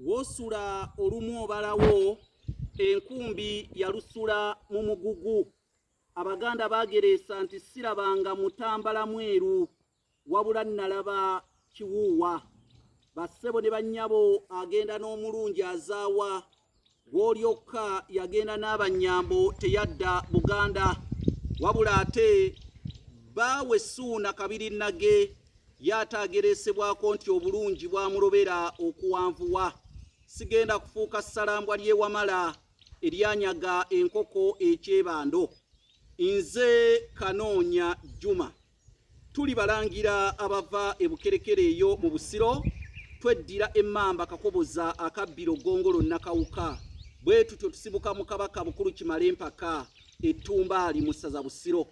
Wosula olumu obalawo enkumbi yalusula mu mugugu. Abaganda baagereesa nti sirabanga mutambala mweru wabula nalaba kiwuuwa. Bassebo ne bannyabo agenda n'omulungi azaawa Gwolyokka yagenda n'abanyambo teyadda Buganda wabula ate baawe Suuna Kabiri Nage yaataagereesebwako nti obulungi bwamulobera okuwanvuwa sigenda kufuuka ssalambwa ly'ewamala eryanyaga enkoko ekyebando nze kanoonya Juma tulibalangira abava ebukerekere eyo mu busiro tweddira emmamba kakoboza akabbiro gongolo nakawuka bwe tutyo tusibuka mu kabaka bukulu kimale empaka ettumbaali mu ssaza busiro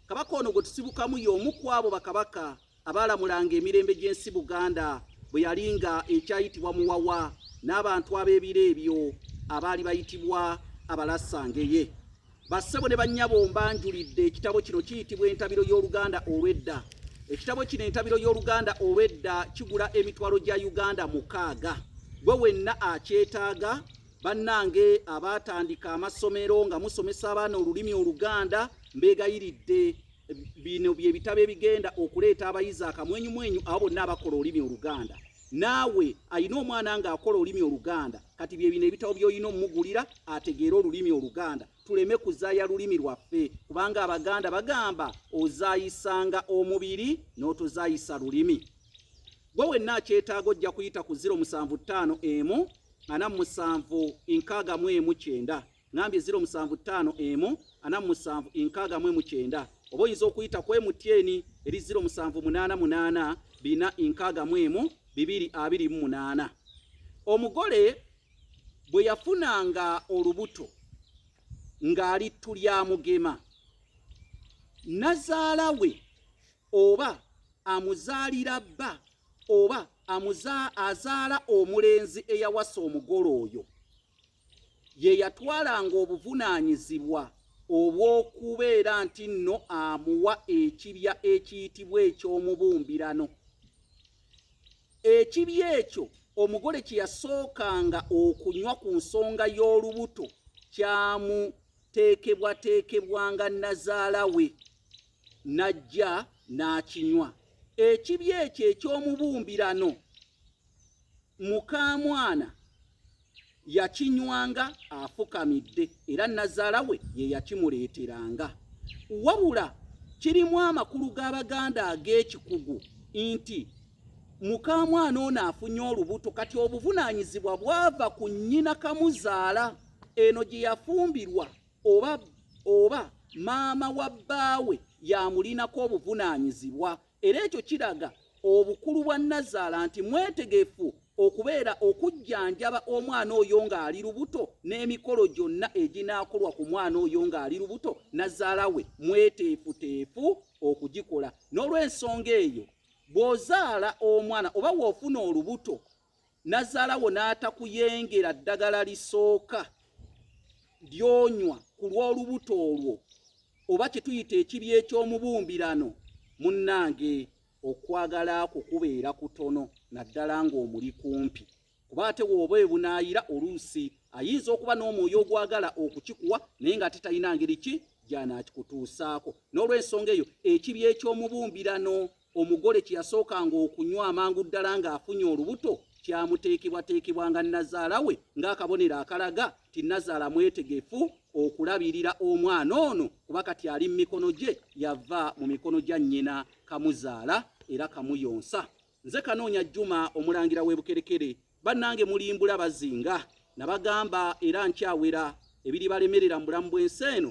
kabaka ono gwe tusibukamu y'omu ku abo bakabaka abaalamulanga emirembe gy'ensi buganda bwe yali nga ekyayitibwa muwawa n'abantu ab'ebiro ebyo abaali bayitibwa abalasangeye Bassebo ne bannyabo mbanjulidde ekitabo kino kiyitibwa entabiro y'oluganda olw'edda. Ekitabo kino entabiro y'oluganda olw'edda kigula emitwalo gya Uganda mukaaga. Gwe wenna akyetaaga bannange abaatandika amasomero nga musomesa abaana olulimi oluganda mbeegayiridde bino bye bitabo ebigenda okuleeta abayizi akamwenyumwenyu abo bonna abakola olulimi oluganda. naawe alina omwana ng'akola olulimi oluganda kati bye bino ebitabo by'olina omugulira ategeere olulimi oluganda tuleme kuzaaya lulimi lwaffe kubanga abaganda bagamba ozaayisanga omubiri n'otozaayisa lulimi gwe wenna akyetaaga ojja kuyita ku 075 emu ana musanvu nkaaga mu emu kyenda ngambye 075147 oba oyinza okuyita ku emutyeni eri 0788461228 omugole bwe yafunanga olubuto ng'ali ttu lya mugema nazaala we oba amuzaalira bba oba azaala omulenzi eyawasa omugole oyo ye yatwalanga obuvunaanyizibwa obw'okubeera nti nno amuwa ekibya ekiyitibwa eky'omubumbirano. Ekibya ekyo omugole kye yasookanga okunywa ku nsonga y'olubuto kyamuteekebwateekebwanga nnazaala we n'ajja n'akinywa. Ekibya ekyo eky'omubumbirano mukaamwana yakinywanga afukamidde era nazaala we ye yakimuleeteranga wabula kirimu amakulu g'abaganda ag'ekikugu nti mukamwana ono afunye olubuto kati obuvunaanyizibwa bwava ku nnyina kamuzaala eno gye yafumbirwa oba oba maama wa bbaawe yamulinako obuvunaanyizibwa Era ekyo kiraga obukulu bwa nnazaala nti mwetegefu okubeera okujjanjaba omwana oyo ng'ali lubuto n'emikolo gyonna eginaakolwa ku mwana oyo ng'ali lubuto nazaala we mweteefuteefu okugikola n'olw'ensonga eyo bw'ozaala omwana oba w'ofuna olubuto nazalawo n'atakuyengera ddagala lisooka lyonywa ku lw'olubuto olwo oba kyetuyita ekibi eky'omubumbirano munnange okwagala kwo kubeera kutono naddala ng'omuli kumpi kuba ate wooba ebunaayira oluusi ayinza okuba n'omwoyo ogwagala okukikuwa naye nga ate talina ngeri ki gyanaakikutuusaako n'olwensonga eyo ekibi eky'omubumbirano Omugole kye yasookanga okunywa amangu ddala ng'afunye olubuto kyamuteekebwateekebwanga nnazaala we ng'akabonero akalaga nti nnazaala mwetegefu okulabirira omwana ono kuba kati ali mu mikono gye yava mu mikono gya nnyina kamuzaala era kamuyonsa nze kanoonya jjuma omulangira w'ebukerekere bannange mulimbula bazinga nabagamba era nkyawera ebiribalemerera mu bulamu bw'ensi eno